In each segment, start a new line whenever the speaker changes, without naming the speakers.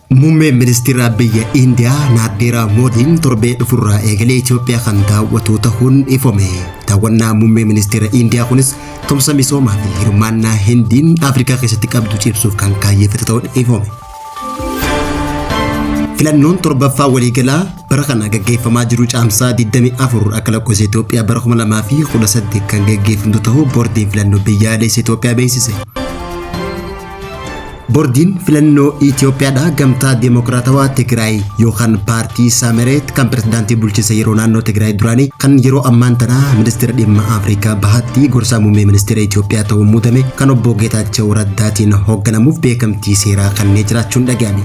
Muummeen ministeeraa biyya Indiyaa Naardeeraa Moodiin torbee dhufurraa eegalee Itoophiyaa kan daawwatu ta'uun ifame. Daawwannaa muummee ministeera Indiyaa kunis tumsa misoomaa fi hirmaannaa Hindiin Afrikaa keessatti qabdu cimsuuf kan kaayyeffate ta'uun ifame. Filannoon torbaffaa waliigalaa bara kana gaggeeffamaa jiru caamsaa 24 akka lakkoofsa Itoophiyaa bara 2018 kan gaggeeffamtu ta'uu boordiin filannoo biyyaalessa Itoophiyaa beeksise. Boordiin filannoo Itoophiyaadhaa gamtaa Deemokiraatawaa Tigraay yookaan paartii Saamereet kan pirezidaantii bulchiinsa yeroo naannoo Tigraay duraanii kan yeroo ammaan tanaa ministeera dhimma Afrikaa bahaatti gorsaa muummee ministeera Itoophiyaa ta'uun muudame kan obbo Geetaachoo Jawu Raddaatiin hoogganamuuf beekamtii seeraa kannee jiraachuun dhaga'ame.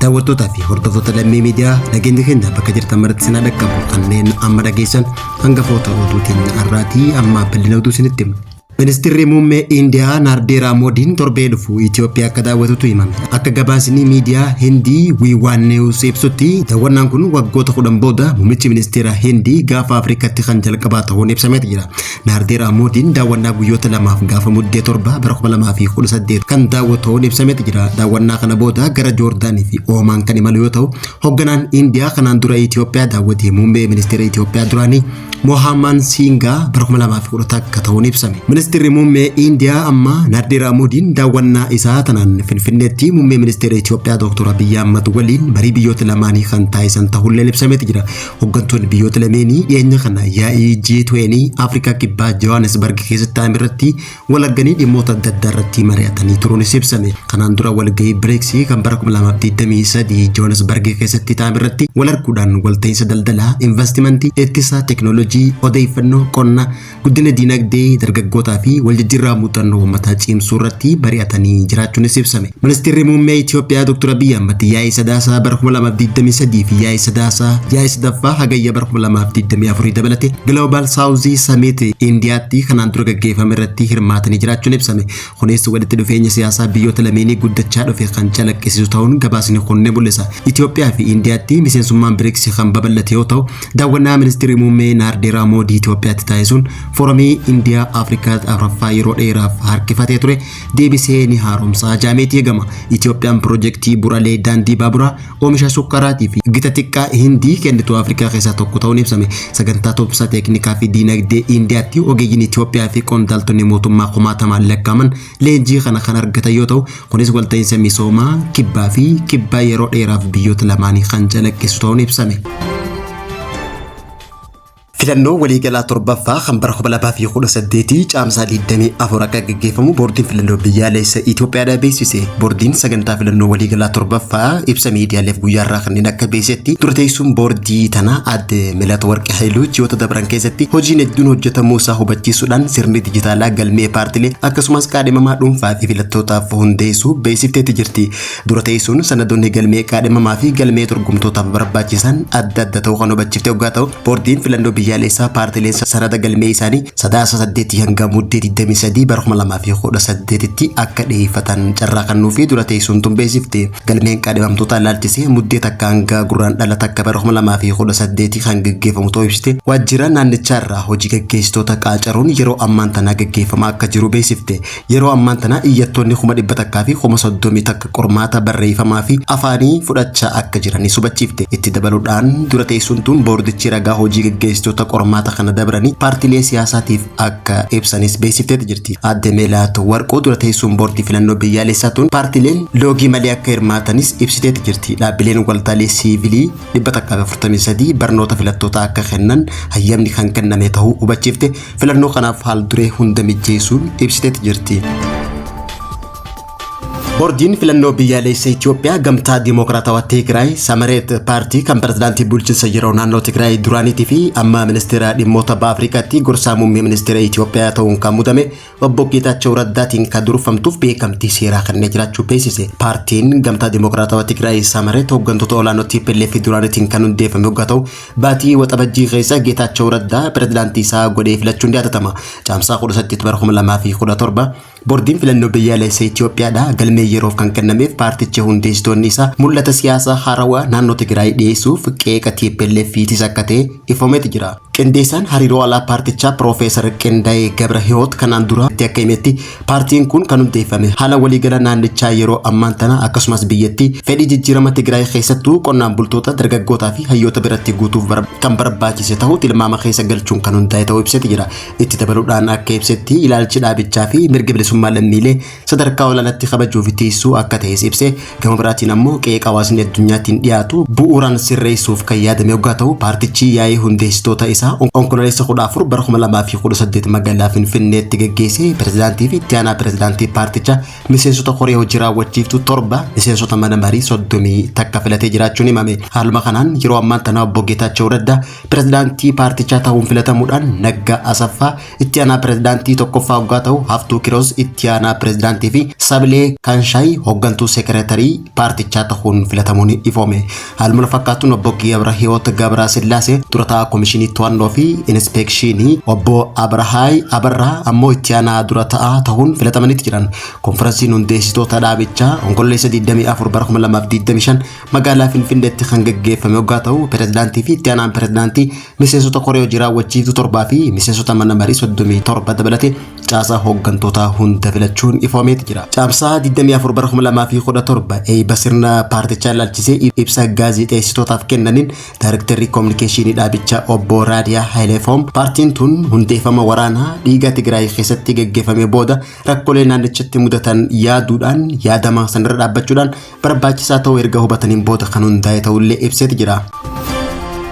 Daawwattootaa fi hordoftoota lammii miidiyaa nageenya keenya bakka jirtan maratti sinaa dhaqqabu kanneen amma dhageessan hangafoota oduutiin har'aatii amma bal'ina oduu isinitti hima. Ministirri muummee Indiyaa Naardeeraa Moodiin torbee dhufu Itoophiyaa akka daawwatutu himame. Akka gabaasni miidiyaa Hindii Wiiwaan Neewus ibsutti daawwannaan kun waggoota kudhan booda muummichi ministeera Hindii gaafa Afrikaatti kan jalqabaa ta'uun ibsameeti jira. Naardeeraa Moodiin daawwannaa guyyoota lamaaf gaafa muddee torba bara 2018 kan daawwatu ta'uun ibsameeti jira. Daawwannaa kana booda gara Joordaanii fi Oomaan kan imalu yoo ta'u, hoogganaan Indiyaa kanaan dura Itoophiyaa daawwate muummee ministeera Itoophiyaa duraanii Mohaammaan Siingaa bara 2010 akka ta'uun ibsame. Ministeerri muummee Indiyaa amma Naardeeraa Moodiin daawwannaa isaa tanaan Finfinneetti muummee ministeera Itoophiyaa Dr. Abiyyi Ahmad waliin marii biyyoota lamaanii kan taasisan ta'ullee ibsameeti jira. Hoggantoonni biyyoota lameenii dhiyeenya kana yaa'ii G20 Afrikaa Kibbaa Johannesburg keessatti taa'ame irratti walagganii dhimmoota adda addaa irratti mari'atanii turuunis ibsame. Kanaan dura walgahii BRICS kan bara 2023 Johannesburg keessatti taa'ame irratti walarguudhaan walta'iinsa daldalaa, investimentii, ittisaa, teknoolojii, odeeffannoo, qonna, Guddina diinagdee dargaggootaa fi waljijjiirraa muuxannoo uummataa cimsuu irratti mari'atanii jiraachuunis ibsame. Ministeerri Muummee Itoophiyaa Dr. Abiyyi Ahmad yaa'ii Sadaasaa bara 2023 fi yaa'ii Sadaasaa yaa'ii sadaffaa Hagayya bara 2024 dabalate Global South Summit Indiyaatti kanaan dura gaggeeffame irratti hirmaatanii jiraachuun ibsame. Kunis walitti dhufeenya siyaasaa biyyoota lameenii guddachaa dhufe kan calaqqisiisu ta'uun gabaasni kun ni mul'isa. Itoophiyaa fi Indiyaatti miseensummaan BRICS kan babal'ate yoo ta'u, Daawwannaa Ministeerri Muummee Naardeeraa Moodii Itoophiyaatti taasisuun foramii Indiyaa Afrikaa afraffaa yeroo dheeraaf harkifatee ture deebisee ni haaromsaa jaameetii eegama. Itoophiyaan piroojeektii buralee daandii baaburaa oomisha sukkaraatii fi gita xiqqaa Hindii kennitu Afrikaa keessaa tokko ta'uun ibsame. Sagantaa tumsa teeknikaa fi diinagdee Indiyaatti ogeeyyiin Itoophiyaa fi qondaaltonni mootummaa kumaatamaan lakkaa'aman leenjii kana kan argatan yoo ta'u kunis walta'iinsa misoomaa kibbaa fi kibbaa yeroo dheeraaf biyyoota lamaanii kan calaqqisu ta'uun ibsame. Filannoo waliigalaa torbaffaa kan bara 2018 caamsaa 24 akka gaggeeffamu boordiin filannoo biyyaalessa Itoophiyaadha beeksise. Boordiin sagantaa filannoo waliigalaa torbaffaa ibsa miidiyaaleef guyyaarraa kanneen akka beeksisetti dura teessuun boordii tanaa adde Melat Warqee Haayilu ji'oota dabran keessatti hojiin hedduun hojjetamuu isaa hubachiisuudhaan sirni dijitaalaa galmee paartilee akkasumas kaadhimamaa dhuunfaa fi filattootaaf hundeessuu beeksifteetti jirti. Dura teessuun sanadoonni galmee kaadhimamaa fi galmee dorgomtootaaf barbaachisan adda adda ta'uu kan hubachiifte oggaa ta'u boordiin filannoo biyyaalessaa paartileen sanada galmee isaanii sadaasa 8 hanga muddee 23 bara 2018tti akka dhiyeeffatan carraa kan nuufi dura teessuun tun beeksifte. Galmeen kaadhimamtootaa ilaalchisee muddee takka hanga gurraandhala takka bara 2018 kan gaggeeffamu ta'uu ibsite waajjira naannichaa irraa hojii gaggeessitoota qaacaruun yeroo ammaan tanaa gaggeeffamaa akka jiru beeksifte. Yeroo ammaan tanaa iyyattoonni 100,000 fi 30,000 takka qormaata barreeffamaa fi afaanii fudhachaa akka jiranis hubachiifte. Itti dabaluudhaan dura teessuun tun boordichi ragaa hojii gaggeessitoota qormaata kana dabranii paartilee siyaasaatiif akka ibsanis beeksifteeti jirti. Aadde Meelaatu Warquu dura teessuun boordii filannoo biyyaalessaa tun paartileen loogii malee akka hirmaatanis ibsiteeti jirti. Dhaabbileen waltaalee siivilii 143 barnoota filattootaa akka kennan hayyamni kan kenname ta'uu hubachiifte filannoo kanaaf haal duree hunda mijjeessuun ibsiteeti jirti. Boordiin filannoo biyyaalessa Itoophiyaa gamtaa Dimookiraatawaa Tigraay Samareet paartii kan pirezidaantii bulchiinsa yeroo naannoo Tigraay duraaniitii fi amma ministeera dhimmoota baha Afrikaatti gorsaa muummee ministeera Itoophiyaa ta'uun kan mudame obbo Geetaachoo Raddaatiin kan durfamtuuf beekamtii seeraa kennee jiraachuu beeksise. Paartiin gamtaa Dimookiraatawaa Tigraay Samareet hooggantoota olaanoo TPLF duraaniitiin kan hundeeffame yoggaa ta'u baatii waxabajjii keessa Geetaachoo Raddaa pirezidaantii isaa godhee filachuun yaadatama. Caamsaa 18 bara 2017 Bordiin filannoo biyyaalessa Itoophiyaadhaa galmee yeroof kan kennameef paarticha hundeessitoonni isaa mul'ata siyaasaa haarawaa naannoo Tigraay dhiyeessuuf qeeqa TPLFiitis akka ta'e ifoomeeti jira. Qindeessaan hariiroo alaa paartichaa Piroofeesar Qindayee Gabrahiwoot kanaan dura akka himetti paartiin kun kan hundeeffame haala waliigala naannichaa yeroo ammaan tana akkasumas biyyattii fedhii jijjiirama Tigraay keessattuu qonnaan bultoota, dargaggootaa fi hayyoota biratti guutuuf kan barbaachise ta'uu tilmaama keessa galchuun kan hundaa'e ta'uu ibseeti jira. Itti dabaluudhaan akka ibsetti ilaalchi dhaabichaa fi mirga bilisummaa lammiilee sadarkaa olaanaatti kabajuu fi tiisuu akka ta'es ibse gama biraatiin ammoo qeeqa hawaasni addunyaatiin dhiyaatu bu'uuraan sirreessuuf kan yaadame oggaa ta'u paartichi yaa'ii hundeessitoota isaa onkololeessa 14 bara 2018 magaalaa Finfinneetti gaggeesse pirezidaantii fi itti aanaa pirezidaantii paarticha miseensota koree hojii raawwachiiftu torba miseensota mana marii 30 takka filatee jiraachuun himame haaluma kanaan yeroo ammaan tana obbo Geetaachoo Raddaa Pirezidaantii paartichaa ta'uun filatamuudhaan Naggaa Asaffaa itti aanaa pirezidaantii tokkoffaa hoggaa ta'u Haftuu Kiroos itti aanaa pirezidaantii fi Sabilee Kanshaay hoggantuu sekereetarii paartichaa ta'uun filatamuun ifoome. Haaluma wal fakkaatuun obbo Gabrahiwoot Gabrasillaasee dura taa'aa Komishinii To'annoo fi Inispeekshiinii, obbo Abrahaay Abarraa ammoo itti aanaa dura ta'aa ta'uun filatamaniiti jiran. Konfiransiin hundeessitoota dhaabichaa Onkololeessa 24 bara 2025 magaalaa Finfinneetti kan gaggeeffame yoggaa ta'u pirezidaantii fi itti aanaan pirezidaantii miseensota koree hojii raawwachiiftuu torbaa fi miseensota mana marii 37 dabalatee caasaa hooggantootaa hunda filachuun ifoomeeti jira. Caamsaa 24 bara 2017 eebba sirna paartichaa ilaalchisee ibsa gaazexeessitootaaf kennaniin daayirektarri koominikeeshinii dhaabichaa obbo Raadiyaa Haayileefoom paartiin tun hundeeffama waraanaa dhiigaa Tigraay keessatti gaggeeffame booda rakkoolee naannichatti mudatan yaaduudhaan yaadama sanarra dhaabbachuudhaan barbaachisaa ta'uu erga hubataniin booda kan hundaa'e ta'ullee ibseeti jira.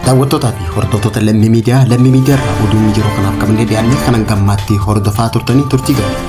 Daawwattootaa fi hordoftoota lammii miidiyaa lammii miidiyaa irraa oduun yeroo kanaaf qabannee dhiyaanne kan hanga ammaatti hordofaa turtanii turtii gaarii.